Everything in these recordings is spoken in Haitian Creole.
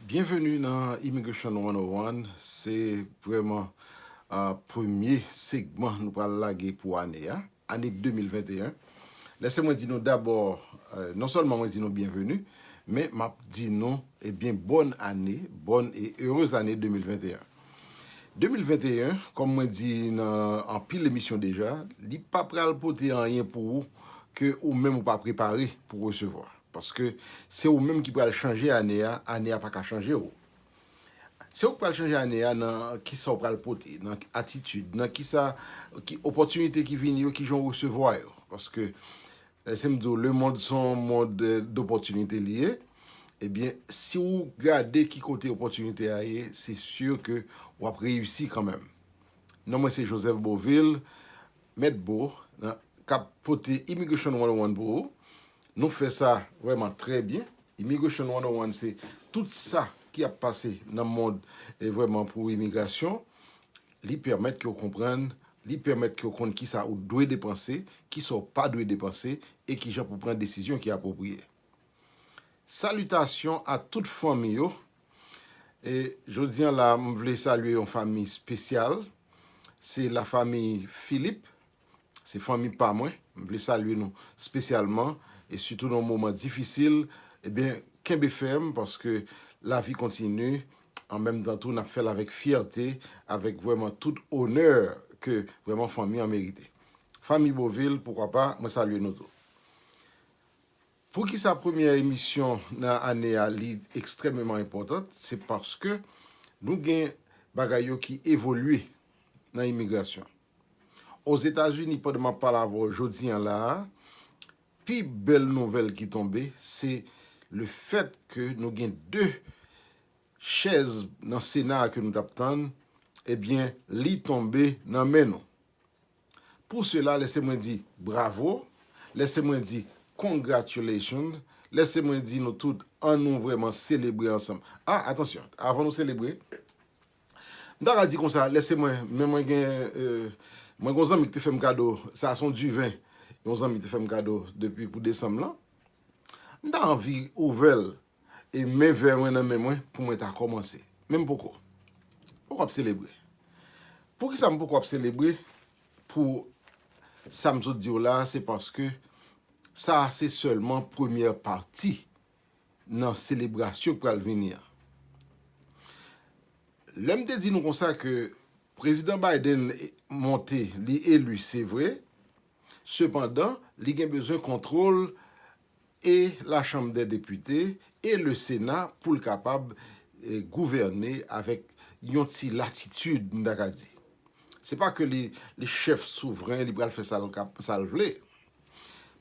Byenveni nan Immigration 101, se vrèman premye segman nou pral lage pou ane a, ane 2021. Lèse mwen di nou dabò, non sèlman mwen di nou byenveni, men m ap di nou ebyen bòn ane, bòn e erez ane 2021. 2021, kòm mwen di nan anpil emisyon deja, li pa pral pote anyen pou ou ke ou menm ou pa prepare pou resevwa. Paske se ou menm ki pral chanje ane a, ane a pa ka chanje ou. Se ou ki pral chanje ane a nan kisa ou pral pote, nan atitid, nan kisa, ki opòtinite ki vini yo, kijan ou resevwa yo. Paske Lèse m di w lemond se yon mond dopòtinite li ye, ebyen si w gade ki kote opòtinite a ye se si ke w ap reyisi kanmenm. Non mwen se Joseph Beauvil, Mèt Bo, k ap pote Immigration 101 pou ou. Nou fè sa vrèman trè byen. Immigration 101 se tout sa ki ap pase nan mond vrèman pou imigrasyon. Li pèmèt ke w konprann, li pèmèt ke w konn kisa ou dwe depanse, kisa w pa dwe depanse, e kijan pou pran desizyon ki apwopriye. Salitasyon a tout fanmi yo, e jodi an la m vle salye yon fanmi spesyal, se la fanmi Philippe. Se fanmi pa mwen, m vle salye nou spesyalman e sitou nan moman difisil ebyen kenbe fèm paske lavi kontini an menm tan tou nap fèl avèk fyète avèk vrèman tout onè ke vrèman fanmi an merite. Fanmi Beauvil poukwa pa mwen salye nou tou. Poukisa premyè emisyon nan ane a li ekstrèmeman enpòtant se paske nou gen bagay yo ki evolye nan imigrasyon. Ozetazini pandan map pale avè w jodi an la a, pi bèl nouvèl ki tonbe se le fèt ke nou gen 2 chèz nan sena a ke nou tap tann ebyen li tonbe nan men nou. Pou sela lèse mwen di bravo, lèse mwen di congratulations, lèse mwen di nou tout an nou vrèman selebre ansanm. A atansyon avan nou selebre M ta ka di konsa, lè se mwen, men mwen gen mwen gen yon zanmi ki te fè m kado, sa se yon diven yon zanmi te fè m kado depi pou desanm lan. M ta anvi ouvè l e men vè mwen nan men mwen pou mwen ta kòmanse. Men m poko. M poko ap selebre. Poukisa m poko ap selebre pou sa m sot di w la a? Se paske sa a se sèlman premyè pati nan selebrasyon k pral vini an. Lè m te di nou konsa ke Prezidan Biden monte, li eli se vre, sepandan li gen bezwen kontwòl e lachanm dè depite e le sena pou l kapab gouvène avèk yon ti latitid m ta ka di. Se pa ke li chèf souvren, li pral fè sa l vle.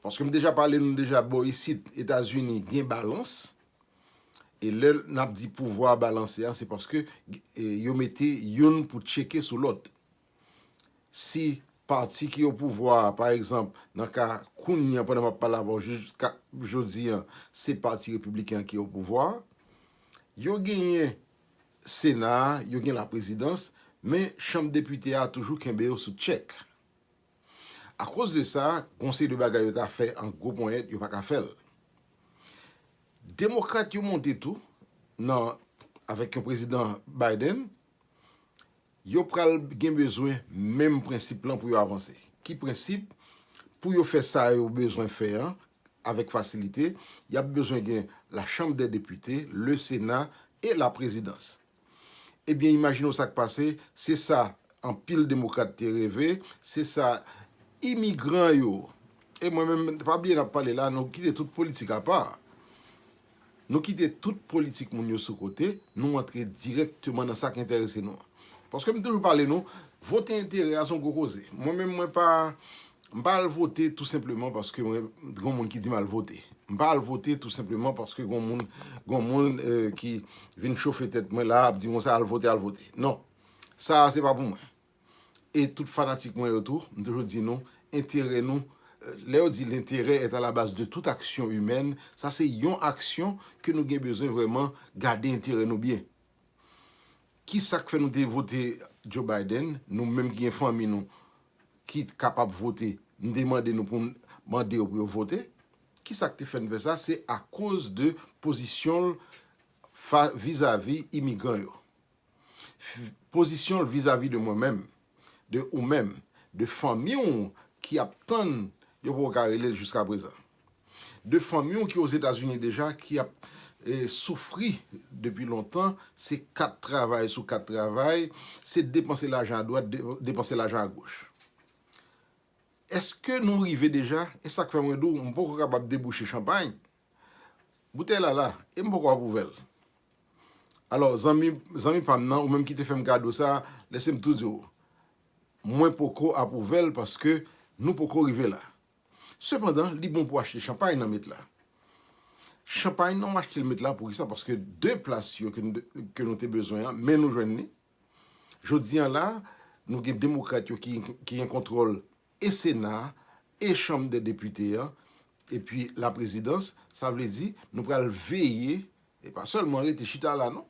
Paske m deja pale nou deja bò isit Etazini gen balans e lè n ap di pouvwa a balanse a se paske yo mete youn pou tcheke sou lòt. Si pati ki opouvwa a pa egzanp nan ka kounye an pandan m ap pale avè w jiska jodi an se pati repibliken an ki opouvwa a yo genyen sena a yo gen laprezidans men chanm depite a toujou kenbe yo sou tchèk. Akoz de sa, gon seri de bagay yo ta fè an gwo ponyèt, yo pa ka fè l. Demokrat yo monte tou nan avèk yon prezidan Biden, yo pral gen bezwen menm prensip lan pou yo avanse. Ki prensip? Pou yo fè sa yo bezwen fè an avèk fasilite, y ap bezwen gen la chanm dè depite, le sena e la prezidans. Ebyen imajine w sa k pase, se sa anpil demokrat te reve, se sa imigran yo, e mwen menm, pa bliye n ap pale la, nou kite tout politik apa, nou kite tout politik moun yo sou kote, nou antre dirèkteman nan sa k enterese nou an. Paske m toujou pale nou, vote enterè a se yon gwo koze. Mwen menm mwen pa M pa al vote tou senpleman paske mwen gon moun ki di m al vote. M pa al vote tou senpleman paske gon moun gon moun ki vin chofe tèt mwen la ap di m konsa al vote al vote. Non, sa a se pa pou mwen. E tout fanatik mwen yo tou, m toujou di nou, enterè nou, lè yo di l'interêt est à la base de toute action humaine, sa se yon aksyon ke nou gen bezwen vrèman gade enterè nou byen. Kisak fè nou te vote Joe Biden nou menm ki gen fanmi nou ki kapab vote nou te mande nou poun mande yo pou yo vote kisak te fèn fè sa se akoz de pozisyonl vizavi imigran yo pozisyonl vizavi de mwen menm. de ou menm, de fanmi w ki ap tann yo poko ka rele l jiska prezan. De fanmi w ki ozetazini deja ki ap soufri depi lontan, se 4 travay sou 4 travay, se depanse lajan a dwat, depanse lajan a goch. Eske nou rive deja, e sak fè mwen di w m poko kapab debouche chanpay, Boutèy la la, e m poko ap ouvè l. Alò, zanmi, zanmi pa m nan, ou menm ki te fè m kado sa a, lèse m tou di w, mwen poko ap ouvè l paske nou poko rive la. Sepandan, li bon pou achte chanpay nan met la. Chanpay nan, w achte l met la pou ki sa? Paske de plas yo ke nou, ke nou te bezwen an, men nou jwenn li. Jodi an la, nou gen demokrat yo ki, ki gen kontwòl e Sena a, e Chanm dè Depite an, epi Laprezidans, sa vle di nou pral veye, e pa sèlman rete chita la non,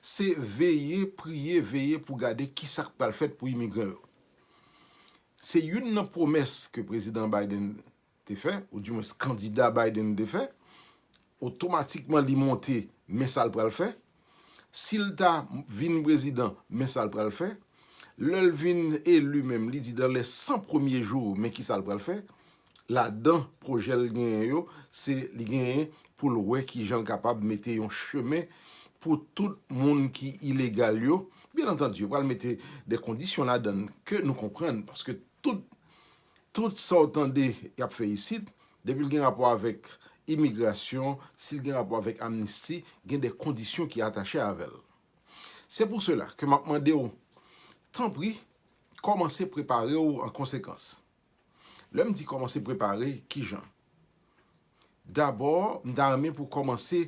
se veye, priye, veye pou gade ki sa k pral fèt pou imigran yo. Se youn nan pwomès ke Prezidan Biden te fè, ou di mwens kandida Biden te fè, otomatikman li monte men sa l pral fè, Sil ta vin prezidan men sal pral fè, lèl vin eli menm li di dan lè 100 premye jou men kisal pral fè, ladan pwojèl genyen yo se li genyen poul wè kijanl kapab mete yon chemen pou tout moun ki ilegal yo, byen antandi yo pral mete de kondisyon ladann ke nou konprann paske tout Tout sa w tande y ap fè isit, depi l gen rapò avèk imigrasyon, si l gen rapò avèk amnisti, gen de kondisyon ki atache avè l. Se pou sela ke m ap mande w, tanpri, kòmanse prepare w an konsekans. Lè m di kòmanse prepare, ki jan? Dabò, m ta renmen pou w kòmanse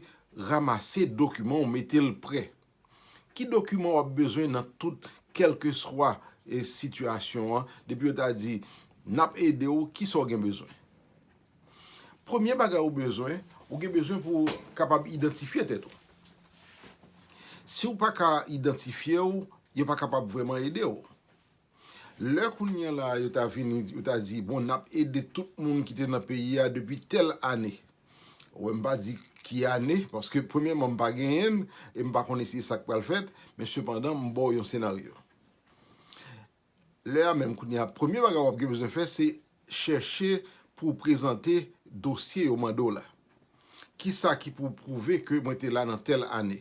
ramase dokiman w, mete l prè. Ki dokiman wap bezwen nan tout kelkeswa sitiyasyon an depi yo ta di nap ede ou kisa ou gen bezwen? Premye bagay ou bezwen, ou gen bezwen pou ou kapab idantifye tèt ou. Si ou pa ka idantifye ou, yo pa kapab vreman ede ou. Lè kounye an la a yo ta vini, yo ta di, bon, n ap ede tout moun ki te nan peyi a depi tèl ane. Ou wè, m pa di ki ane, paske premyèman m pa genyen l e m pa konnen si se sa k pral fèt, men sepandan m ba w yon senaryo. Lè a menm, kounye a, premye bagay w ap gen bezwen fè se chèche pou w prezante dosye yo mande w la. Kisa ki pou w pwouve ke mwen te la nan tèl ane?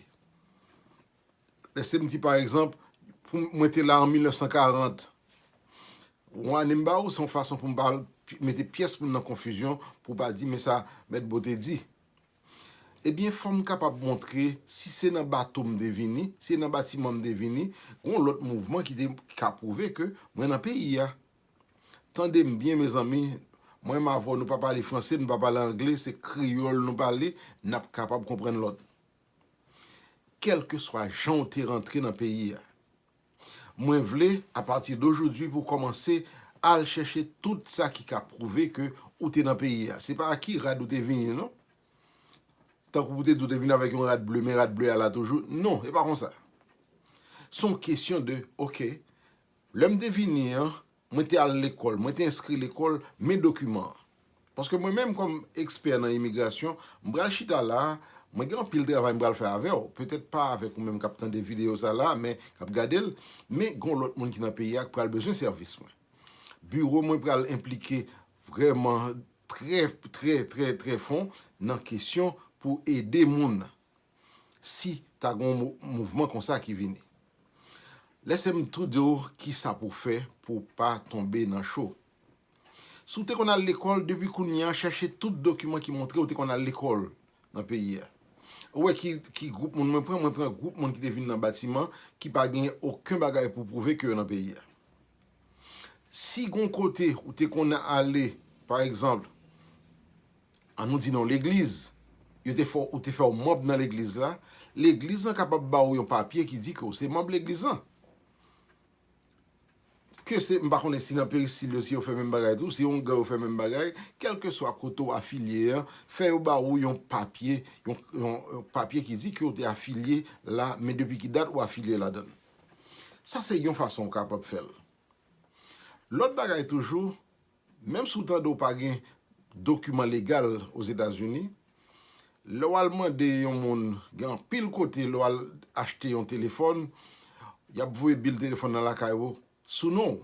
Lèse m di pa egzanp, pou mwen te la an 1940, yon ane m ba ou, se yon fason pou m pa mete pyès moun nan konfizyon, pou pa di men sa Mèt Bo te di. Ebyen fò m kapab montre si se nan bato m te vini, si se nan batiman m te vini, gon lòt mouvman ki te ka pwouve ke mwen nan peyi a. Tande m byen mezanmi, mwen m avè w nou pa pale franse, nou pa pale angle, se kreyòl nou pale, n ap kapab konprann lòt. Kèlkeswa jan w te rantre nan peyi a, mwen vle apati dojodwi pou w kòmanse al chèche tout sa ki ka pwouve ke ou te nan peyi a. Se pa a ki rad ou te vini non. Tankou pou w te di ou te vini avèk yon rad ble men rad ble a la toujou. Non, se pa konsa. Se yon kesyon de, ok, lè m te vini an, Mwen te al lekòl, mwen te enskri lekòl, men dokiman an. Paske mwen menm kòm ekspè nan imigrasyon, m pral chita la a, mwen gen anpil travay m pral fè avè w, petèt pa avèk ou menm k ap tande videyo sa la a men k ap gade l, men gen yon lòt moun ki nan peyi a k pral bezwen sèvis mwen. Biwo mwen pral enplike vrèman trè, trè, trè, trè fon nan kesyon pou ede moun si ta gon mouvman konsa ki vini. Lesem tou diw kisa pou fè pou pa tonbe nan cho. Si w te konn al lekòl depi kounye an chache tout dokiman ki montre ou te konn al lekòl nan peyi a. Ou wè ki gwoup moun mwen pran, mwen pran gwoup moun ki te vin nan batiman ki pa gen oken bagay pou pwouve ke yo nan peyi a. Si gon kote ou te konn ale pa egzanp, An nou di non legliz. Yo te fè ou te fè ou manb nan legliz la. Legliz lan kapab ba ou yon papye ki di ke ou se manb legliz lan. Ke se, m pa konnen si nan peristil yo si yo fè menm bagay tou, si ongan yo fè menm bagay, kèlkeswa kote ou afilye an, fè yo ba ou yon papye, yon yon papye ki di ke ou te afilye la, men depi ki dat ou afilye ladan l. Sa se yon fason ou kapab fè l. Lòt bagay toujou. Menm si w tande w pa gen dokiman legal Ozetazini, lè w al mande yon moun, gen anpil kote lè w al achte yon telefòn, y ap voye bil telefòn nan lakay ou sou non w.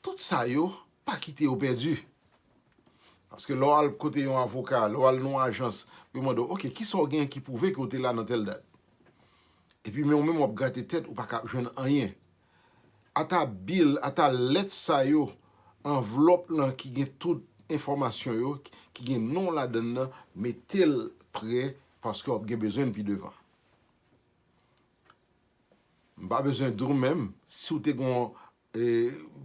Tout sa yo, pa kite yo pèdi. Paske lè w al kote yon avoka, lè w al nan yon ajans, yo mande w, ok, kisa w gen ki pwouve ke w te la nan tèl dat? Epi men w menm w ap grate tèt, ou pa ka jwenn anyen. Ata bil, ata lèt sa yo, anvlòp lan ki gen tout enfòmasyon yo, ki gen non w ladann nan, mete l pre paske w ap gen bezwen l pi devan. M pa bezwen di w menm, si w te gen yon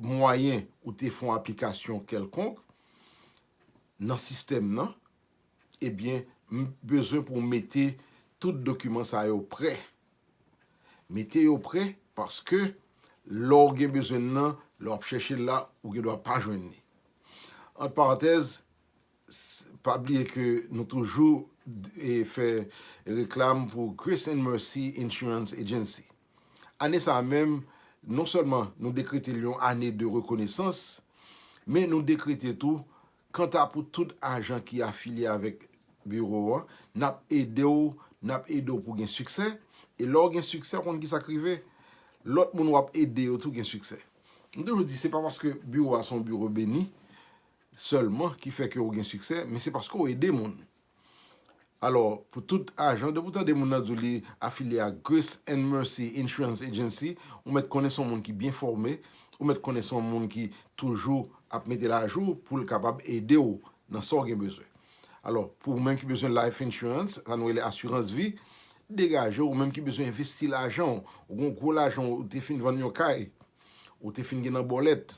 mwayen ou te fè yon aplikasyon kèlkonk nan sistèm nan, Ebyen m bezwen pou w mete tout dokiman sa yo prè. Mete yo prè paske lè w gen bezwen l nan, lè w ap chèche l la, ou gen dwa pa jwenn li. Ant parantèz, pa bliye ke nou toujou fè reklam pou Grace and Mercy Insurance Agency. Ane sa a menm, non sèlman nou dekrete l yon ane de rekonesans, men nou dekrete tou Kanta pou tout ajan ki afilye avèk biwo an, n ap ede w n ap ede w pou w gen siksè, e lè w gen siksè ou konn ki sa k rive? Lòt moun w ap ede yo tou gen siksè. M toujou di se pa paske biwo a se yon biwo beni sèlman ki fè ke ou gen siksè, men se paske ou ede moun. Alò, pou tout ajan, depi w tande moun nan di w li afilye ak Grace and Mercy Insurance Agency, ou mèt konnen se yon moun ki byen fòme, ou mèt konnen se yon moun ki toujou ap mete l ajou pou l kapab ede w nan sa w gen bezwen. Alò, pou ou menm ki bezwen life insurance, sa nou rele asirans vi, degaje w, ou menm ki bezwen envesti lajan w, ou gen yon gwo lajan w, ou te fin vann yon kay, ou te fin gen nan bòlèt,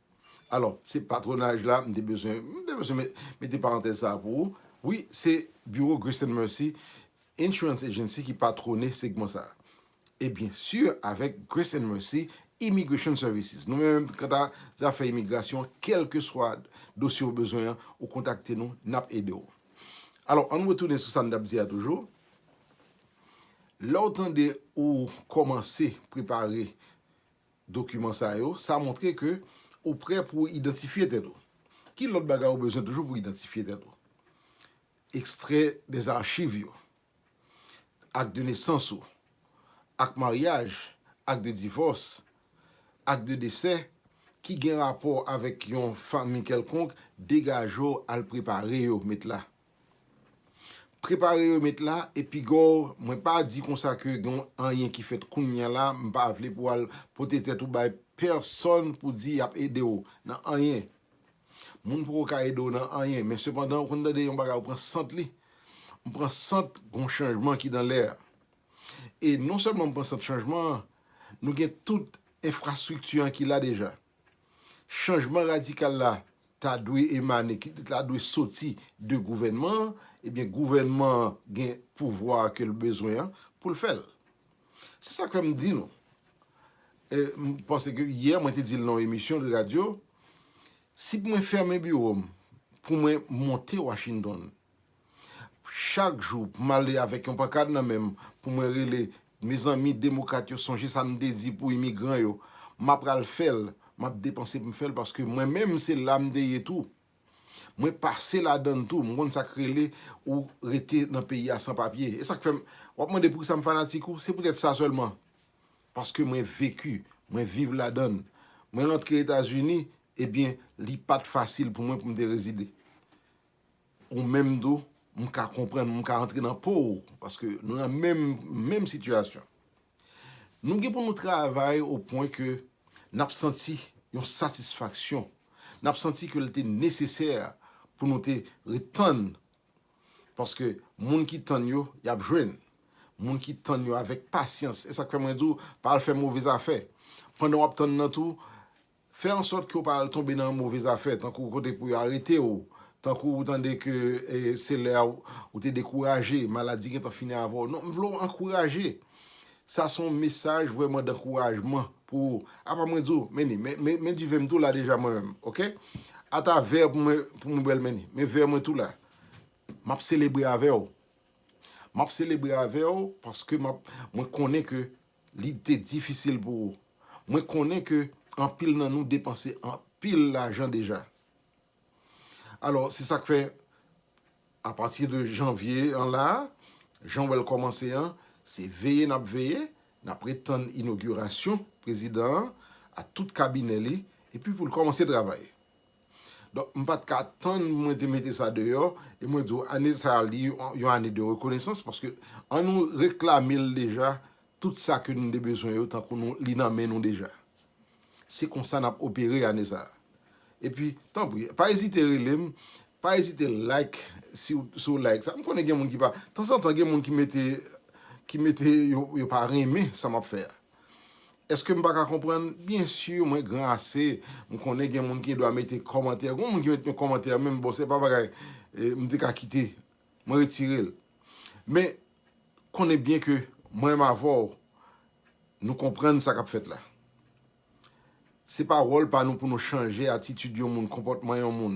Alò, se patwonaj la m te bezwen, m te bezwen mete parantèz sa a pou ou. Wi, se biwo Grace and Mercy Insurance Agency ki patwone segman sa a. E byen si avèk Grace and Mercy Immigration Services. Nou menm kanta zafè imigrasyon, kèlkeswa dosye ou bezwen an, ou kontakte nou, n ap ede ou. Alò, ann retounen sou sa n t ap di a toujou. Lè ou tande ou kòmanse prepare dokiman sa yo, sa montre ke ou prè pou w idantifye tèt ou. Ki lòt bagay ou bezwen toujou pou w idantifye tèt ou? Ekstrè des archives yo, Acte de naissance ou, Acte mariage, Acte de divorce, Acte de décès ki gen rapò avèk yon fanmi kèlkonk, degaje w al prepare yo met la. Prepare remet la e pigaw mwen pa di konsa ke gen anyen ki fèt kounya la m pa vle pou al pote tèt ou bay pèsòn pou di yap ede w nan anyen moun poko ka ede w nan anyen men sepandan ou konn tande yon bagay ou pran sant li m pran sant gon chanjman ki nan lè e non sèlman m pran sant chanjman an nou gen tout enfrastrikti an ki la deja. Chanjman radikal la ta dwe emane, ki ta dwe soti de gouvènman an, ebyen gouvènman an gen pouvwa a ke l bezwen an pou l fè l. Se sa k fè m di nou, m panse ke yè mwen te di l nan yon emisyon de radyo, si mwen fèmen biwo m pou mwen monte Washington Chak jou m ale avèk yon pankad nan men m pou mwen rele Mezanmi demokrat yo sonje sa m te di pou imigran yo m apral fè l m ap depanse pou m fè l paske mwen menm se la m te ye tou mwen pase ladan l tou m konn sa k rele ou rete nan peyi a san papye e sa k fè m w ap mande poukisa m fanatik ou se poutèt sa sèlman paske mwen veki mwen viv ladan l mwen rantre etazini ebyen li pa t fasil pou mwen pou m te rezide. Ou menm tou, m ka konprann, m ka antre nan po ou, paske nou nan menm, menm sitiyasyon. Nou gen pou nou travay o pwen ke n ap santi yon satisfaksyon, n ap santi ke l te nesesè pou nou te ret tann, paske moun ki tann yo, y ap jwenn. Moun ki tann yo avèk pasyans, e sa k fè mwen di w, pa al fè move zafè. Pandan w ap tann nan tou, Fè ansòt ke w pa al tonbe nan move zafè, tankou kote pou yo arete w, tankou ou tande ke se lè a ou te dekouraje, maladi gentan fini avè w. Non, m vle w ankouraje. Sa se yon mesaj vrèman dankourajman pou ou. Apa mwen di w, Menni, men diven m tou la deja mwen menm, ok? Ata vè pou mwen, pou mwen bwè l Menni. Men vè mwen tou la. M ap selebre avè w. M ap selebre avè w paske m ap, mwen konnen ke Li te difisil pou ou. Mwen konnen ke anpil nan nou depanse anpil lajan deja. Alò, se sa k fè, apati de janvye an la, jan w wè l kòmanse an, se veye n ap veye, n ap ret tann inogirasyon prezidan an ak tout kabinè li, epi pou l kòmanse travay. Donk m pat ka tann mwen te mete sa deyò e mwen di w ane sa li yon ane de rekonesans paske an nou reklame l deja tout sa ke nou te bezwen yo tankou nou li nan men nou deja. Se konsa n ap opere ane sa. E pi tanpri pa ezite rele m, pa ezite like si w like sa. M konnen gen moun ki pa, tanzantan gen moun ki mete ki mete yo pa renmen sa m ap fè a. Eske m pa ka konprann? Byen sur mwen gran ase, m konnen gen moun ki gen dwa mete kòmantè. Gon moun ki met yon kòmantè menm bon se pa bagay m te ka kite. Mwen retire l. Men konnen byen ke mwen menm avè w nou konprann sa k ap fèt la. Se pa wòl pa nou pou nou chanje atitid yon moun, konpòtman yon moun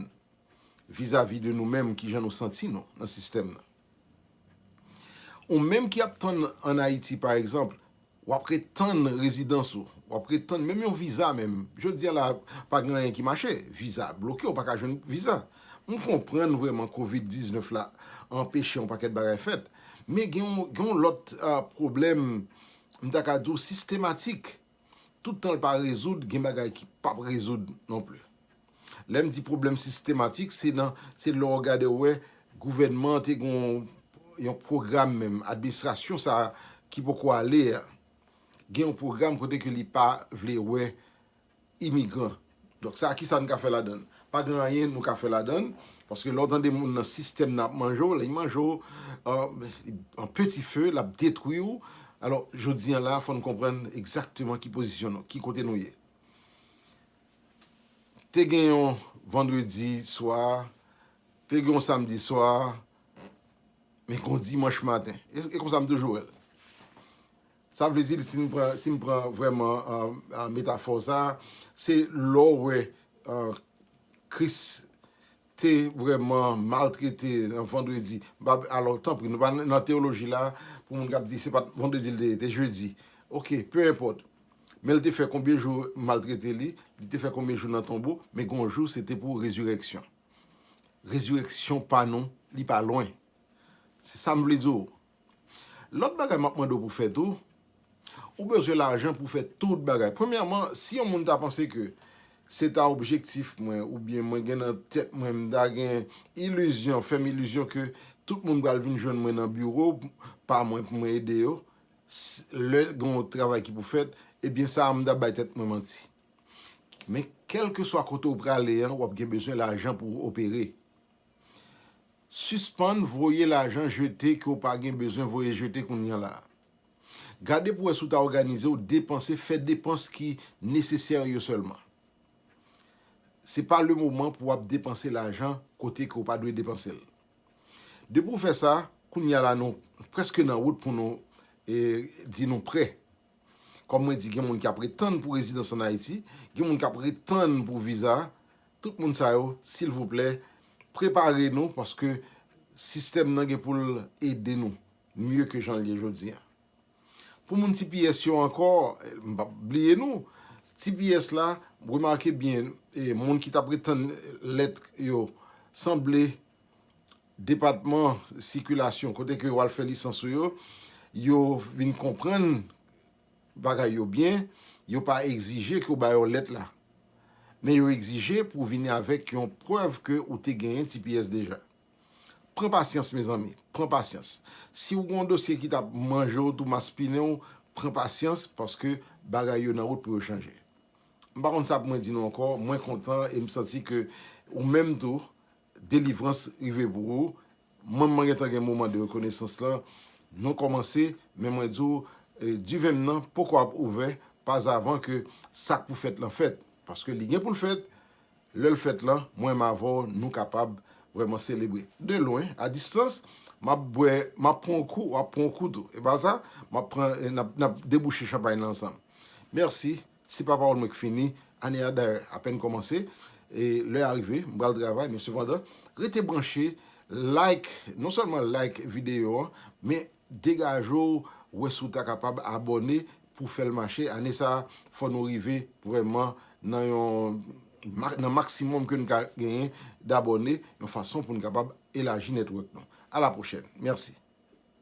vizavi de nou menm kijan nou santi nou nan sistèm nan. Ou menm ki ap tann an Ayiti pa egzanp, w ap ret tann rezidans ou, w ap ret tann menm yon viza menm, jodi a la pa gen anyen ki mache, viza a bloke ou pa ka jwenn viza. M konprann vrèman kovid 19 la anpeche yon pakèt bagay fèt, men gen yon lòt pwoblèm m ta ka di w sistematik. Tout tan l pa rezoud, gen bagay ki p ap rezoud non pli. Lè m di pwoblèm sistematik, se nan, se lè w gade w wè gouvènman an te gen yon pwogram menm, administrasyon sa a ki poko ale a, gen yon pwogram kote ke li pa vle wè imigran. Donk sa kisa n ka fè ladan l? Pa gen anyen nou ka fè ladan l, paske lè w tande moun nan sistèm nan ap manje w, li manje w an peti fe, l ap detwi w. Alò jodi an la a fò n konprann egzakteman ki pozisyon nou, ki kote nou ye. Te gen yon vandredi swa, te gen yon samdi swa, men gen yon dimanch maten. E konsa m toujou wè l. Sa vle di si n pran si n pran vrèman metafò sa a, se lè w wè Kris te vrèman maltrete nan vandredi, alò tanpri nou pa nan teyoloji la a pou moun k ap di se pa t vandredi l te ye, te jedi, ok, pe enpòt men l te fè konbyen jou maltrete li, li te fè konbyen jou nan tonbo men gen yon jou se te pou rezirèksyon. Rezirèksyon pa nou li pa lwen. Se sa m vle di w. Lòt bagay map mande w pou fè tou, ou bezwen lajan pou fè tout bagay. Premyèman, si yon moun ta panse ke se ta objektif mwen oubyen mwen gen nan tèt mwen, m ta gen ilizyon, fè m ilizyon ke tout moun pral vin jwenn mwen nan biwo pa mwen pou mwen ede yo, lè gen yon travay ki pou fèt, ebyen sa a m ta bay tèt mwen manti. Men kèlkeswa kote ou prale an, wap gen bezwen lajan pou opere. Sispann voye lajan jete ke w pa gen bezwen voye jete kounye la. Gade pou wè si w ta òganize w depanse, fè depans ki nesesè yo sèlman. Se pa le moman pou w ap depanse lajan kote ke w pa dwe depanse l. Depi w fè sa, kounye la nou prèske nan wout pou nou di nou prè Kòm mwen di gen moun ki ap ret tann pou rezidans an Ayiti, gen moun kap ret tann pou viza, tout moun sa yo silvouplè prepare nou paske sistèm nan gen pou l ede nou mye ke jan l ye jodi a. Pou moun tps yo ankò, m pap bliye nou, tps la remake byen moun ki tap ret tann lèt yo sanble Depatman sikilasyon kote ke yo al fè lisans ou yo, yo vin konprann bagay yo byen, yo pa egzije ke ou ba yo lèt la. Men yo egzije pou vini avèk yon prèv ke ou te genyen tps deja. Pran pasyans mezanmi, pran pasyans. Si ou gen yon dosye ki tap manje ou tou, maspinen ou, pran pasyans paske bagay yo nan wout pou yo chanje. M pa konn sa pou mwen di nou ankò, mwen kontan e m santi ke ou menm tou Delivrans rive pou ou. Mwen mwen gentan gen moman de rekonesans lan nou kòmanse men mwen di w diven m nan poko ap ouvè pazavan ke sak pou fèt lan fèt paske li gen pou l fèt lè l fèt lan mwen m avè w nou kapab vrèman selebre de lwen a distans m ap bwè m ap pran w kou w ap pran w kou tou e pa sa m ap pran nap debouche chanpay lan ansanm mèsi. Se pa pawòl mwen k fini, ane a dayè apèn kòmanse e lè a rive m pral travay men sepandan rete branche like non sèlman like videyo an men degaje w wè si w ta kapab abòne pou w fèl mache ane sa fò nou rive vrèman nan yon nan maksimòm ke n ka genyen dabòne yon fason pou n kapab elaji network nou a la pwochèn mèsi.